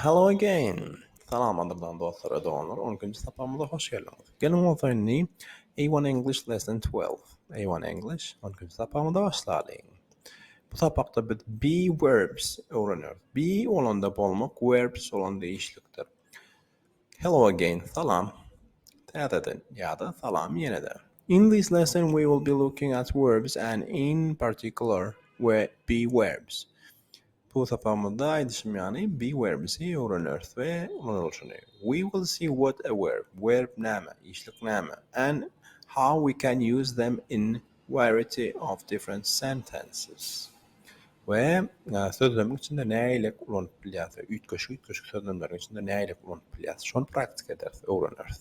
Hello again! Salam gadyrdan dostlar we doganlar, on ikinji sapagymyza hoş geldiňiz. Geliň bolsa indi A1 English Lesson 12, A1 English on ikinji sapagymyza başlalyň. Bu sapakda biz be verbs öwrenýäris. Be bolanda bolmak, verbs bolanda işlikdir. Hello again, salam. Täzeden ýa-da salam ýene-de. In this lesson we will be looking at verbs and in particular we be verbs. Bu sapagymyzda aýdyşym ýaly be werbsi öwreneris we ulanylyşyny we will see what a verb, verb näme, işlik näme, and how we can use them in variety of different sentences we sözlemiň içinde näileik ulanyp bilýäris we üýtgeşik-üýtgeşik sözlemleriň içinde näileik ulanyp bilýäris şony praktika ederis, öwreneris.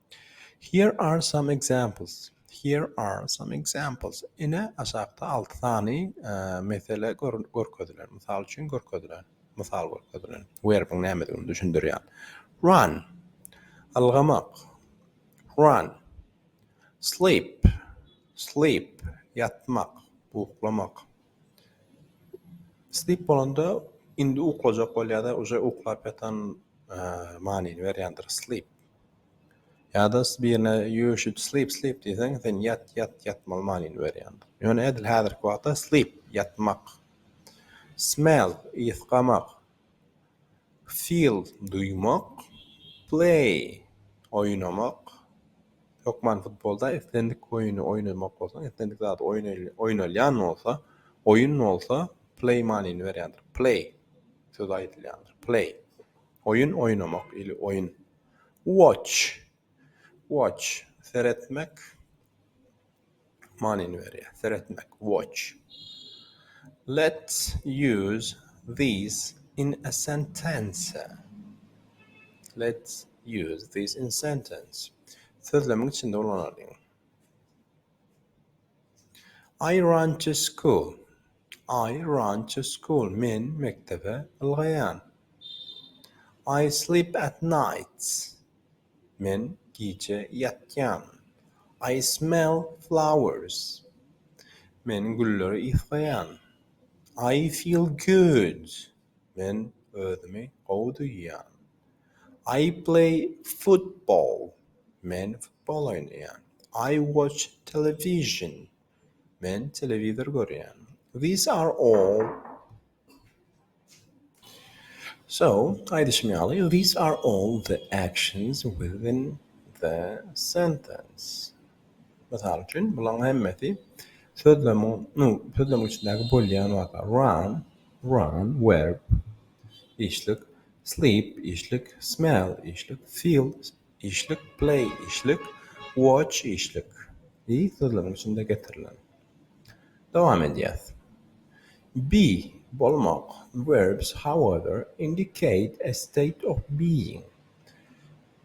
Here are some examples Here are some examples Ine, aşakda alty sany mesele görkezilen, mysal üçin görkezilen, mysal görkezilen werbiň nämedigini düşündirýän. Run, ylgamak, run. Sleep, sleep, ýatmak, uklamak. Sleep bolanda indi uklajak bol ýa-da uje uklap ýatan manyny berýändir, sleep. Ýa-da birine you should sleep sleep diýseň, sen ýat ýat ýatmaly manyny berýändir. Ýöne edil häzirki wagtda sleep, ýatmak, smell, ysgamak, feel, duýmak, play, oýnamak, hökman futbolda islendik oýny oýnamak bolsa, islendik zat oýnalýan bolsa, oýun bolsa play manyny berýändir, play sözi aýdylýandyr, play. Oýun oýnamak ili oýun. Watch. Watch. Seretmek. Manyny berýär. Seretmek. Watch. Let's use these in a sentence. Let's use these in sentence. Sözlemiň içinde ulanalyň. I run to school. I run to school. Men mekdebe ylgaýan. I sleep at night. Men gije ýatýan. I smell flowers. Men gülleri ysgaýan. I feel good. Men özümi gowy duýýan. I play football, men futbol oýnaýan. I watch television, men telewizor görýän. These are all So, aýdyşym ýaly, these are all the actions within the sentence. Mysal üçin, bularyň hemmesi sözlemiň, nu, sözlemiň içindäki bolýan zatlar. Run, run, verb, işlik. sleep, işlik, smell, işlik, feel, işlik, play, işlik, watch, işlik, y sözleriň içinde getirilen. Dowam edýäs. Be, bolmak, verbs, however, indicate a state of being.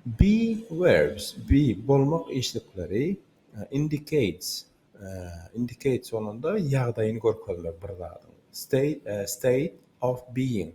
Be verbs, be, bolmak işlikleri, indicates, indicates bolanda ýagdaýyny görkezmek bir zadyň, state, state of being,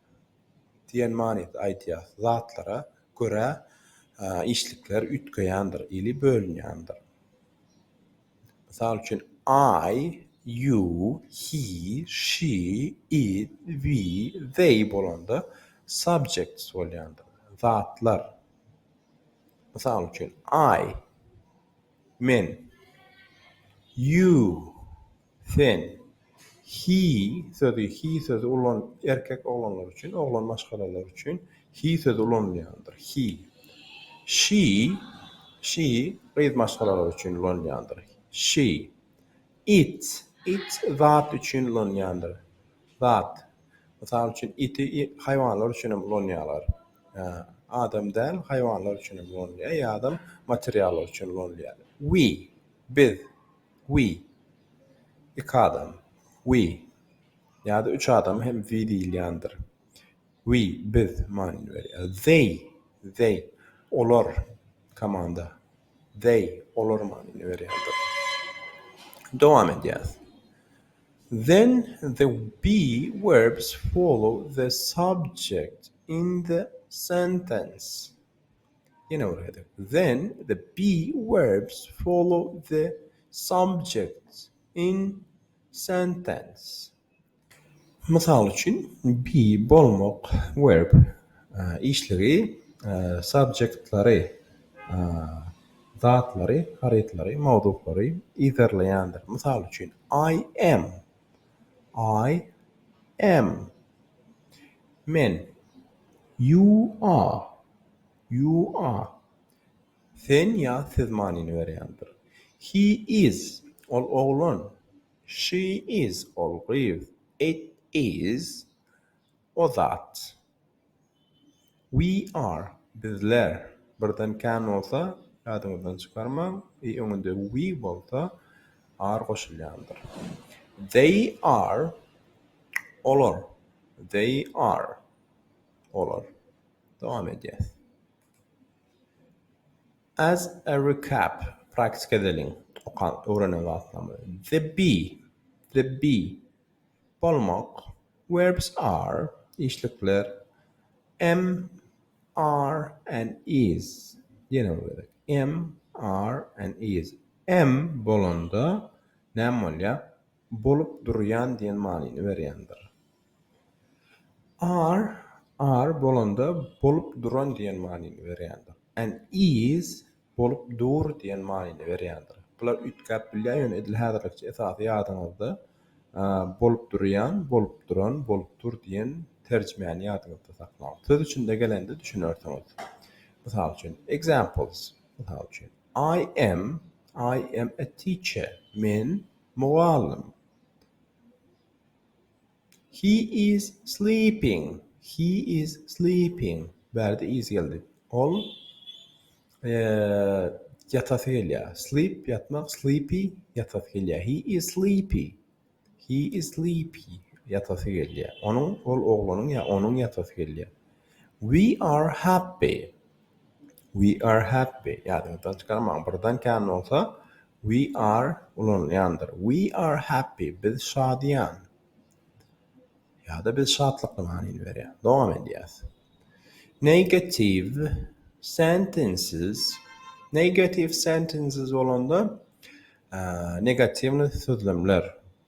diýen manyda aýdýar. Zatlara görä işlikler üýtgeýändir ili bölünýändir. Mysal üçin, I, you, he, she, it, we, they bolanda subjects bolýandyr. Zatlar. Mysal üçin, I, men, you, Sen, he sözi, he sözi ulan erkek oglanlar üçin, oglan maşgalalar üçin he sözi ulanylýandyr, he. She, she gyz maşgalalar üçin ulanylýandyr, she. It, it zat üçin ulanylýandyr, zat. Mysal üçin, iti haýwanlar üçin hem ulanýarlar. Adam däl, haýwanlar üçin hem ulanylýar ýa-da materiallar üçin ulanylýar. We, biz, We. Iki adam. We. Ýa-da üç adama hem we diýilýändir. We, biz, manyny berýär. They, they, olar, komanda. They, olar manyny berýärdir. Dowam edýäs. Then the be verbs follow the subject in the sentence. Then the be verbs follow the subjects in sentence. Mysal üçin, be bolmak verb işligi subjektlary, zatlary, harytlary, mowzuklary, yzarlaýandyr. Mysal üçin, I am. I am, men, you are, you are, sen ýa siz manyny berýändir. He is, ol oglan, she is, ol gyz, it is, o zat. We are, bizler, birden can bolsa ýadyňyzdan çykarmaň, y öňünde we bolsa are goşulýandyr. They are, olar, they are, olar. Dowam edýäs. As a recap, praktika edeliň, okan, öwrenen zatlarymyzy. The bee, the bee. bolmak, verbs are, işlikler, am, are, and is, ýene bir gezek, am, are, and is, am bolanda näme bolýar? Bolup durýan diýen manyny berýändir. Are, are bolanda bolup duran diýen manyny berýändir. And is, bolup dur diýen manyny berýändir. Bular üýtgäp bilýär, ýöne edil häzirlikçe esasy ýadyňyzda bolup durýan, bolup duran, bolup dur diýen terjimäni ýadyňyzda saklaň. Söz içinde gelende düşünersiňiz. Mysal üçin, examples, mysal üçin, I am, I am a teacher, men mugallym. He is sleeping. He is sleeping. Bärde is geldi. Ol ýatasy gelýär. Sleep ýatmak, sleepy ýatasy gelýär. He is sleepy. He is sleepy. Ýatasy gelýär. Onuň ol oglanyň ýa onuň ýatasy gelýär. We are happy. We are happy, ýadyňyzdan çykarmaň, birden kän bolsa we are ulanylýandyr. We are happy, biz şadyýan. Ýa-da biz şatlykly manyny berýär. Dowam edýäs. Negative sentences, negative sentences bolanda, negatiwnyý sözlemler.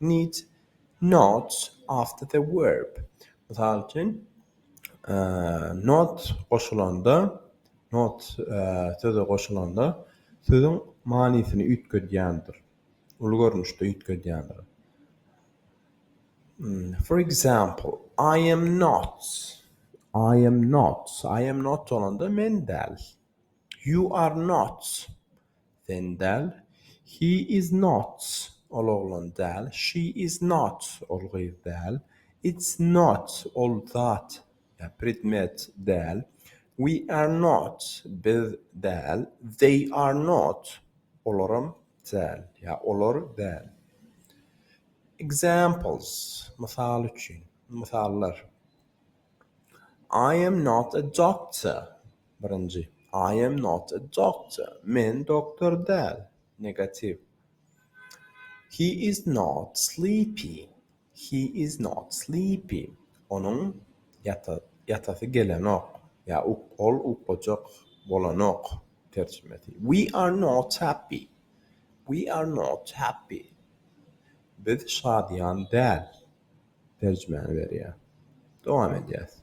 Need notes after the verb. Mysal üçin, not goşulanda, not söze goşulanda sözüň manysyny üýtgedýändir, uly görnüşde üýtgedýändir. For example, I am not, I am not, I am not bolanda men däl. You are not. Sen däl, He is not, Ol oglan däl, She is not, Ol gyz däl, It's not, Ol zat ýa predmet däl, We are not, Biz däl, They are not, Olaram däl ýa olar däl. Examples, Mysal üçin, mysallar, I am not a doctor, Birinji, I am not a doctor, men doktor däl. Negatiw. He is not sleepy, he is not sleepy, onuň ýatasy gelenok ýa ol uklajak bolanok. Terjimesi. We are not happy, we are not happy, biz şadyýan däl. Terjimäni berýär. Dowam edýäs.